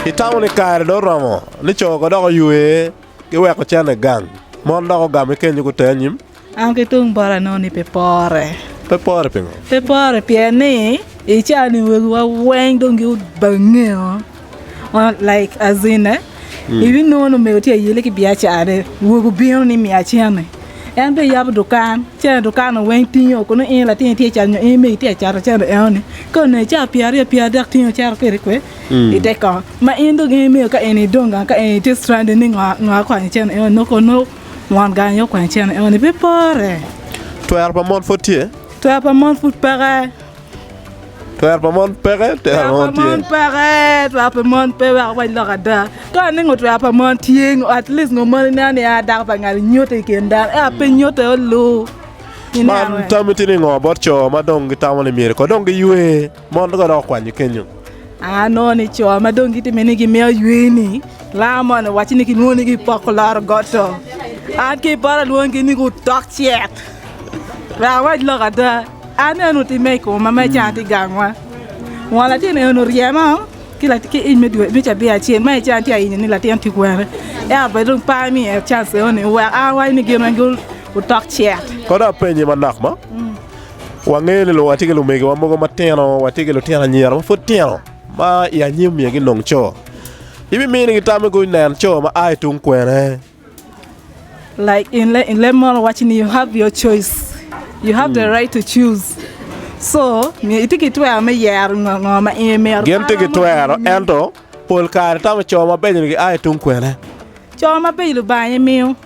Itamo ni kare dong oromo ni co kodok oywe giweko cente gang, mon dok ogamo kenyo guter anyim? An ki tung bota anongo ni pe pore. Pe pore pingo? Pe pore pien ni i caa ni wegiwa weng dong gibangeo. Like as in eh, mm. ibi nongo ni omego tye ayele ki biacarane, wego obino ni mi acene. En be yabo dukan, cene dukan weng tingo kono in latin tye cat nyo in megi tye cat cene eoni. Ka one caa pia aryo pia adek tingo cero kiri kwe mm. ite kong. Ma in dong in mego ka in idonga ka in itye stranded ni ngo ngo akonyo cene eoni no kono Mon gang aye okwanyo cene enoni pe pore. Twero pa mon pud tye. Twero pa mon pud peke. Twero pa mon peke, twero pa mon tye. Mon peke, twero pa mon pe wek wany lok ada. Ka ni ngo twero pa mon tye, at least ngo moni neno ni a dako pa ngali nyuto i kin dano. Ea pe nyuto olu. Man tami tye ni ngo bot co ma dong gitamo ni myero ko dong giywe. Mon dong gidoko kwanyo kenyo. Aa noni co ma dong gitime ni gimiyo aywe-ni laa moni owacci ni kilwongo ni gipoko loro got-to. An ki i poto alwongi ni gutok cek. Wek awac lok ada, an eno timme i koma ma ican tye gangwa. Won latin eno oryema ki ic me cabia acel ma ican tye ayinyo ni latin tye kwene. Ento pe dong par ni iye can ceo-ni wek an awac ni gin weng gutok cek. Kono apenyi manok mo. wangeyo ni watye ki lumegiwa mogo matino, watye ki lutino anyira ma pud tino ma i anyim myero ginong co. Ibiminigi tam me kong inen co ma a i tung kwene? Like in le- in leb mono wacci ni you have your choice. You have the right to choose. So, myero itye ki twero me yero ngo ngo ma in imito. Gin tye ki twero, ento pol kare tamo co mabeco-ni gia i tung kwene? Co mabeco Lubanga aye miyo.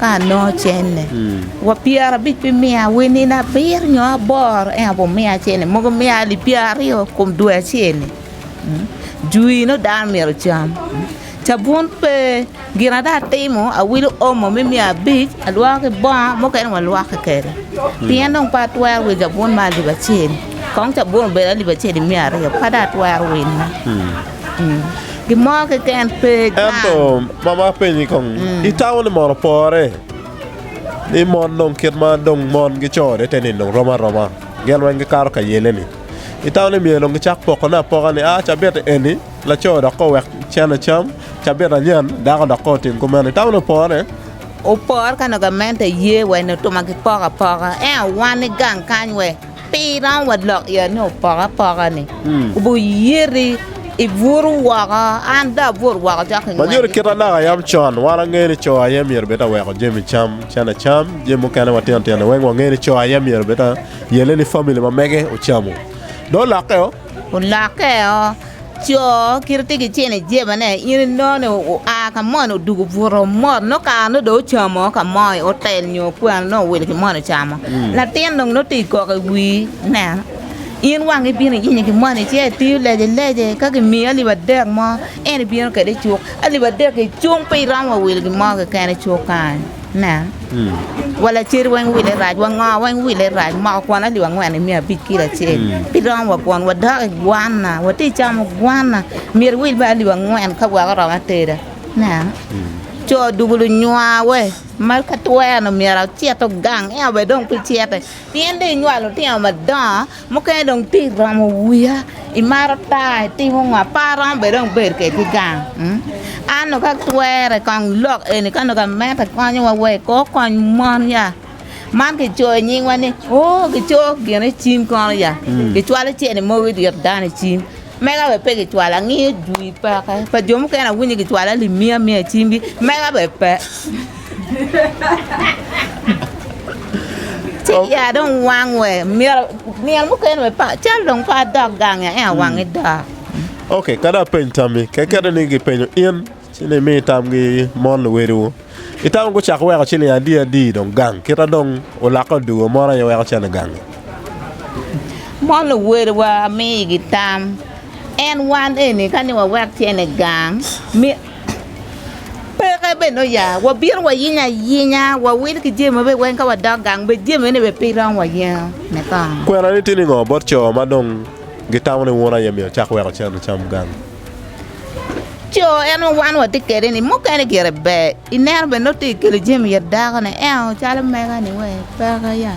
ka anongo cene, wa pyerabic bimiya wa i nino abiro nyo aboro ento wumiya cene mogo miya alip pyeraryo i kom dwe acel-li, jwi nongo dano myero ocam, cabun pe gin ma dong atimo awilo omo me miya abic alwoko ki bongo mukene walwokki kwede pien dong pe atwero wilo cabun me alip acel kong cabun obed alip acel imiya aryo pe dong atwero wille. Ento, mama apenyi kong, itamo ni mon opore? Ni mon dong kit ma dong mon gicore te ni dong rom aroma, gin weng gikato ka yele-ni. Itamo ni myero dong gicak pokone apoka ni, 'A, cabit eni laco dok kong owek cen ecam, cabit anyen dako dok kong otim kumeno. Itamo ni opore? Opore ka nongo gamente ye wa i nut ma gipoko apoka. Ento wan i gang kany we Pi romo wa lok i ot-ni opoke apoka-ni, wuyiti ibutu woko, an dong abuto woko cok ki ngwec. Ma myero kit anaka yam con, wan angeyo ni co aye myero bed ta weko jami cam, cene cam, jami mukene matino tino-ni weng wangeyo ni co aye myero bed ta yelle ni famili ma mege ocamu. Dong lokke-o. Olokkeo, co kite tye ki cene ijebane in inoni oa kamoni odugu obuto mot nongo kare nongo dong ocamo kamoni otel nyo okwano nongo owil kimoni ocamo latin dong nongo tye koko iwir nen in wangi ibino iyenyo kimoni ice itiyo lece lece ka kimiyi alip adek mo en ibino kwede icuk alip adek-ki cung pe iromo wa wil gimo keken icuk kany. Nen, wa lacer weng wile rac, wa ngo weng wile rac, moko kwon alip angwen i miya abic kilo acel, pi romo wa kwon, wadok i gwanna, wati i camo gwanna, myero iwil bene alip angwen ka weko oromo ateda. Nen, co dugu lunywawe ma ka twero-nu myero ocit ogang, en aye dong pe cite, pien dong inywalo lutino madongo. Mukene dong tic romo wiya, imaro ta, itimo ngo, apar romo bene dong bedo kede ki gang, an dong ka twere kong lok eni ka nongo gamente konyowa wa iko kony mon ya, man kicoyo nyingwa ni oo gico gin icim kono ya, kicwalo cene mogo idye dano icim. Mega be pe gicwalo angiyo jwi peke pa jo mukene awinyo gicwalo alip mia mia i cimgi mega be pe ci ya dong wang we myero nino mukene be pa cal dong pe adok gangi aye awangi dok. Ok, kadi apeny tammi, kekeni ni gipenyo in. Ci ni imi tamgi mon luwediwu. Itamo gucako weko ciling adi adi dong gang kita dong olakke odwogo mon aye weko cen i gangi. Mon luwediwa amigi tam en wan eni ka ni wawek cen i gang mi peke bene oya wabino wayinyo ayinya wawil ki jami mabe weng ka wadok gang be jami eni be pe romo wayengo me kong. Kwenani tye ningo bot co ma dong gitamo ni wun aye myero cak weko cen icam gang? co en ma wan watye kede ni mukene gire ber ineno bene nongo tye kelo jami it dako ne eo calo mega ni wee peke ya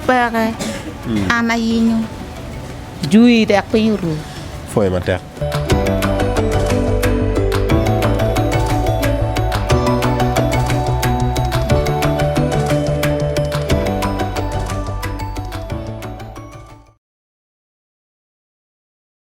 peke an ayingo jui dok piny oru pwoyo matek.